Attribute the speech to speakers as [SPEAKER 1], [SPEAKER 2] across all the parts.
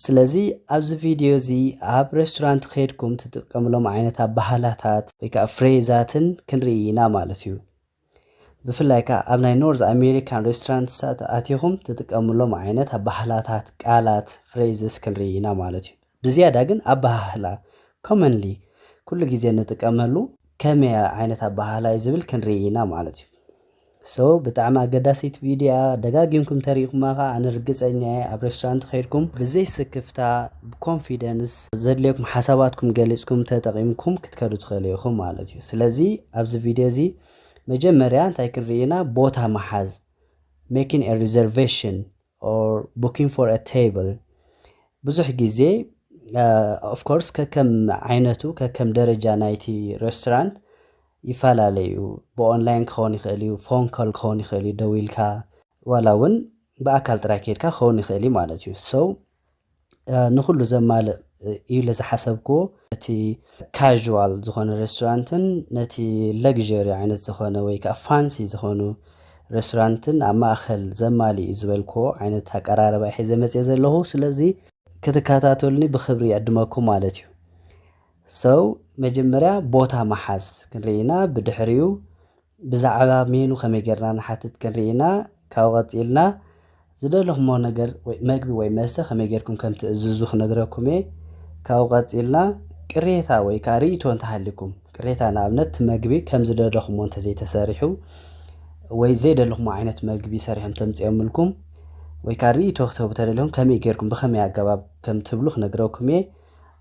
[SPEAKER 1] ስለዚ ኣብዚ ቪድዮ እዚ ኣብ ሬስቶራንት ከድኩም ትጥቀምሎም ዓይነት ኣባህላታት ወይ ከዓ ፍሬዛትን ክንርኢ ኢና ማለት እዩ ብፍላይ ከዓ ኣብ ናይ ኖርዝ ኣሜሪካን ሬስቶራንትሳት ኣቲኹም ትጥቀምሎም ዓይነት ኣባህላታት ቃላት ፍሬዝስ ክንርኢ ኢና ማለት እዩ ብዝያዳ ግን ኣባህላ ኮመንሊ ኩሉ ግዜ ንጥቀመሉ ከመይ ዓይነት ኣባህላ እዩ ዝብል ክንርኢ ኢና ማለት እዩ So ብጣዕሚ ኣገዳሲት ቪድዮ እያ ደጋጊምኩም ተሪኢኩማ ከኣ ኣነ ርግጸኛ እየ ኣብ ሬስቶራንት ከይድኩም ብዘይ ስክፍታ ብ confidence ዘድልየኩም ሓሳባትኩም ገሊጽኩም ተጠቂምኩም ክትከዱ ትክእሉ ኢኩም ማለት እዩ ስለዚ ኣብዚ ቪድዮ እዚ መጀመርያ እንታይ ክንሪኢ ኢና ቦታ ምሓዝ making a reservation or booking for a table ብዙሕ ግዜ of course ከከም ዓይነቱ ከከም ደረጃ ናይቲ restaurant ይፈላለ እዩ ብኦንላይን ክኸውን ይኽእል እዩ ፎን ኮል ክኸውን ይኽእል እዩ ደዊልካ ዋላ እውን ብኣካል ጥራይ ከይድካ ክኸውን ይኽእል እዩ ማለት እዩ so ንኹሉ ዘማልእ እዩ ኢለ ዝሓሰብክዎ እቲ ካዥዋል ዝኾነ ሬስቶራንትን ነቲ ለግዠሪ ዓይነት ዝኾነ ወይ ከዓ ፋንሲ ዝኾኑ ሬስቶራንትን ኣብ ማእኸል ዘማልእ እዩ ዝበልክዎ ዓይነት ኣቀራርባ እዩ ሒዘ መፅየ ዘለኹ ስለዚ ክትከታተሉኒ ብክብሪ ይዕድመኩም ማለት እዩ ሰው መጀመርያ ቦታ መሓዝ ክንርኢ ኢና ብድሕሪኡ ብዛዕባ ሜኑ ከመይ ጌርና ንሓትት ክንርኢ ኢና። ካብኡ ቀጺልና ዝደለኹሞ ነገር ወይ መግቢ ወይ መስተ ከመይ ጌርኩም ከም ትእዝዙ ክነግረኩም እየ። ካብኡ ቀጺልና ቅሬታ ወይ ከኣ ርእይቶ እንተ ሃልዩኩም፣ ቅሬታ ንኣብነት እቲ መግቢ ከም ዝደለኹሞ እንተ ዘይተሰሪሑ ወይ ዘይደለኹሞ ዓይነት መግቢ ሰሪሖም ተምጺኦምልኩም ወይ ከኣ ርእይቶ ክትህቡ ተደሊኹም ከመይ ጌርኩም ብኸመይ ኣገባብ ከም ትብሉ ክነግረኩም እየ።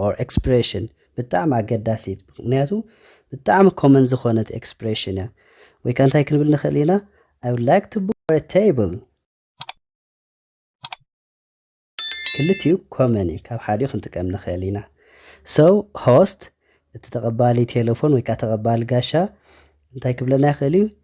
[SPEAKER 1] or expression ብጣዕሚ ኣገዳሲት ምክንያቱ ብጣዕሚ ኮመን ዝኾነት ኤክስፕሬሽን እያ ወይ ከ እንታይ ክንብል ንኽእል ኢና I would like to book for a table ክልቲኡ ኮመን እዩ ካብ ሓዲኡ ክንጥቀም ንኽእል ኢና so host እቲ ተቐባሊ ቴሌፎን ወይ ከዓ ተቐባሊ ጋሻ እንታይ ክብለና ይኽእል እዩ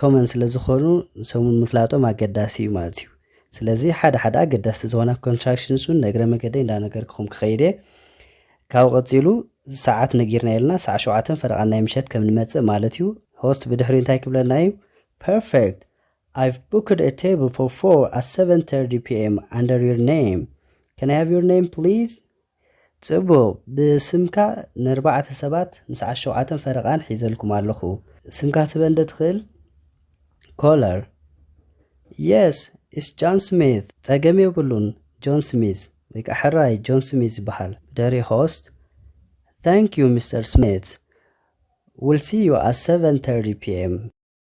[SPEAKER 1] ኮመን ስለ ዝኾኑ ሰሙን ምፍላጦም ኣገዳሲ እዩ ማለት እዩ። ስለዚ ሓደ ሓደ ኣገዳስቲ ዝኾና ኮንትራክሽንስ እውን ነግረ መገደይ እንዳነገርክኹም ክኸይድ እየ። ካብኡ ቀጺሉ ሰዓት ነጊርና ኢልና ሰዓ ሸውዓተን ፈረቓን ናይ ምሸት ከም ንመጽእ ማለት እዩ። ሆስት ብድሕሪኡ እንታይ ክብለና እዩ? Perfect! I've booked a table for four at 7:30 p.m. under your name. Can I have your name please? ጽቡቅ ብስምካ ነርባዕተ ሰባት ምስ ዓሸውዓተን ፈረቃን ሒዘልኩም ኣለኹ ስምካ ትበን ዶ ትኽእል ኮለር Yes it's John Smith ጸገም የብሉን ጆን ስሚዝ ወይ ከኣ ሕራይ ጆን ስሚዝ ይበሃል ብድሕሪ ሆስት Thank you Mister Smith We'll see you at 7:30 pm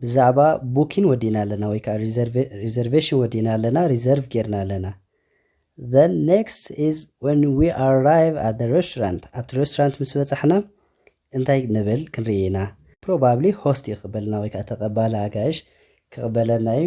[SPEAKER 1] ብዛዕባ ቡኪን ወዲእና ኣለና ወይ ከኣ ሪዘርቬሽን ወዲእና ኣለና፣ ሪዘርቭ ጌርና ኣለና። The next is when we arrive at the restaurant ኣብቲ ሬስቶራንት ምስ በጻሕና እንታይ ንብል ክንርኢ ኢና። ፕሮባብሊ ሆስት እዩ ክቕበልና ወይ ከኣ ተቐባሊ ኣጋይሽ ክቕበለና እዩ።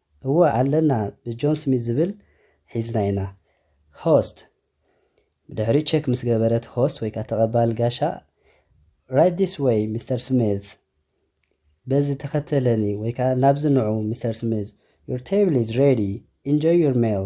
[SPEAKER 1] እወ ኣለና ብጆን ስሚዝ ዝብል ሒዝና ኢና። Host፣ ብድሕሪኡ ቸክ ምስ ገበረ እቲ ሆስት ወይከኣ ተቐባሊ ጋሻ Right this way ሚስተር ስሚዝ፣ በዚ ተኸተለኒ ወይከኣ ናብዚ ንዑ ሚስተር ስሚዝ፣ Your table is ready! Enjoy your meal!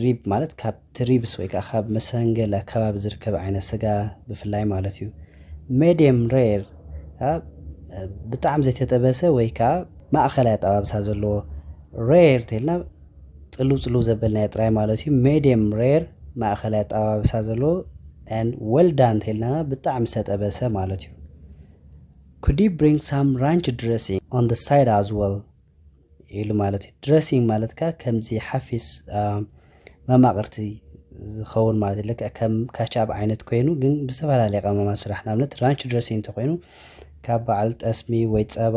[SPEAKER 1] ሪብ ማለት ካብቲ ሪብስ ወይ ከኣ ካብ መሰንገል ኣከባቢ ዝርከብ ዓይነት ስጋ ብፍላይ ማለት እዩ። ሜድየም ሬር ከኣ ብጣዕሚ ዘይተጠበሰ ወይ ከኣ ማእከላይ ኣጠባብሳ ዘለዎ። ሬር ተይልና ጽልው ጽልው ዘበልናዮ ጥራይ ማለት እዩ። ሜድየም ሬር ማእከላይ ኣጠባብሳ ዘለዎ and well done ተይልና ብጣዕሚ ዝተጠበሰ ማለት እዩ። Could you bring some ranch dressing on the side as well? ኢሉ ማለት እዩ ድረሲንግ ማለት ከ ከምዚ ሓፊስ መማቕርቲ ዝኸውን ማለት እዩ ልክዕ ከም ካቻብ ዓይነት ኮይኑ ግን ብዝተፈላለየ ቀመማ ስራሕ ንኣብነት ራንች ድረሲንግ እንተኮይኑ ካብ በዓል ጠስሚ ወይ ፀባ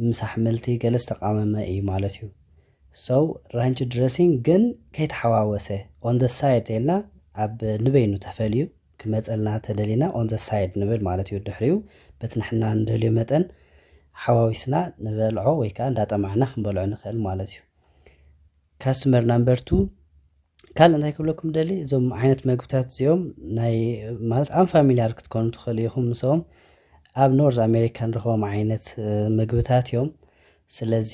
[SPEAKER 1] ምስ ኣሕምልቲ ገለ ዝተቃመመ እዩ ማለት እዩ ሰው ራንች ድረሲንግ ግን ከይተሓዋወሰ ኦን ደ ሳይድ ተልና ኣብ ንበይኑ ተፈልዩ ክመጸልና ተደሊና on the side ንብል ማለት እዩ ድሕሪኡ በቲ ንሕና ንደልዮ መጠን ሓዋዊስና ንበልዖ ወይ ከኣ እንዳጠማዕና ክንበልዖ ንክእል ማለት እዩ Customer number two ካልእ እንታይ ክብለኩም ደሊ እዞም ዓይነት መግብታት እዚኦም ናይ ማለት ኣን ፋሚልያር ክትኮኑ ትኽእሉ ኢኹም ምሶም ኣብ ኖርዝ ኣሜሪካ ንረኽቦም ዓይነት መግብታት እዮም ስለዚ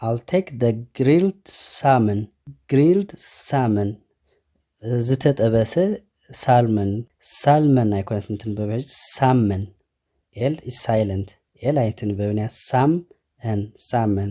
[SPEAKER 1] I'll take the grilled salmon, grilled salmon ዝተጠበሰ ሳልመን ሳልመን ኣይኮነትን እትንበብ ሕጂ ሳመን ኤል ኢዝ ሳይለንት ኤል ኣይትንበብን እያ ሳም ን ሳመን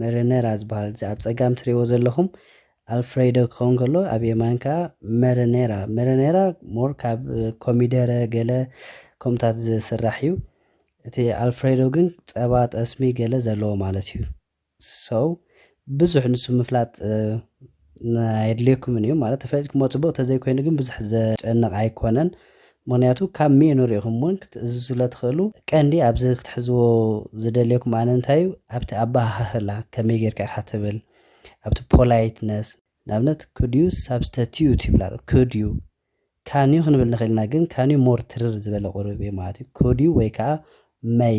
[SPEAKER 1] መረነራ ዝበሃል እዚ ኣብ ጸጋም ትሪእዎ ዘለኹም ኣልፍሬዶ ክኸውን ከሎ ኣብ የማን ከኣ መረነራ መረነራ ሞር ካብ ኮሚደረ ገለ ከምኡታት ዝስራሕ እዩ እቲ ኣልፍሬዶ ግን ጸባ ጠስሚ ገለ ዘለዎ ማለት እዩ ሰው ብዙሕ ንሱ ምፍላጥ ኣየድልየኩምን እዩ ማለት ተፈሊጥኩሞ ጽቡቅ ተዘይኮይኑ ግን ብዙሕ ዘጨንቅ ኣይኮነን ምክንያቱ ካብ ሚኑ ሪኢኩም ውን ክትእዝዙ ስለትክእሉ ቀንዲ ኣብዚ ክትሕዝዎ ዝደልየኩም ኣነ እንታይ እዩ ኣብቲ ኣበሃህላ ከመይ ጌርካ ኢካ ትብል ኣብቲ ፖላይትነስ ንኣብነት could you substitute ይብላ could you can you ክንብል ንክእል ኢና ግን can you more ትርር ዝበለ ቁሩብ እዩ ማለት እዩ could you ወይ ከዓ may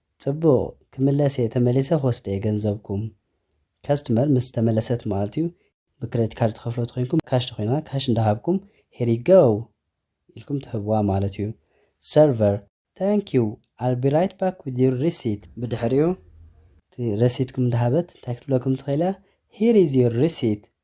[SPEAKER 1] ጽቡቅ ክምለስ እየ ተመሊሰ ክወስድ እየ ገንዘብኩም ከስትመር ምስ ተመለሰት ማለት እዩ ብክረዲት ካርድ ትከፍልዎ ተኮይንኩም ካሽ ተኮይና ካሽ እንዳሃብኩም ሄር ዩ ጎው ኢልኩም ትህብዋ ማለት እዩ ሰርቨር Thank you I'll be right back with your receipt ብድሕሪኡ እቲ ረሲትኩም እንዳሃበት እንታይ ክትብለኩም ትክእል እያ Here is your receipt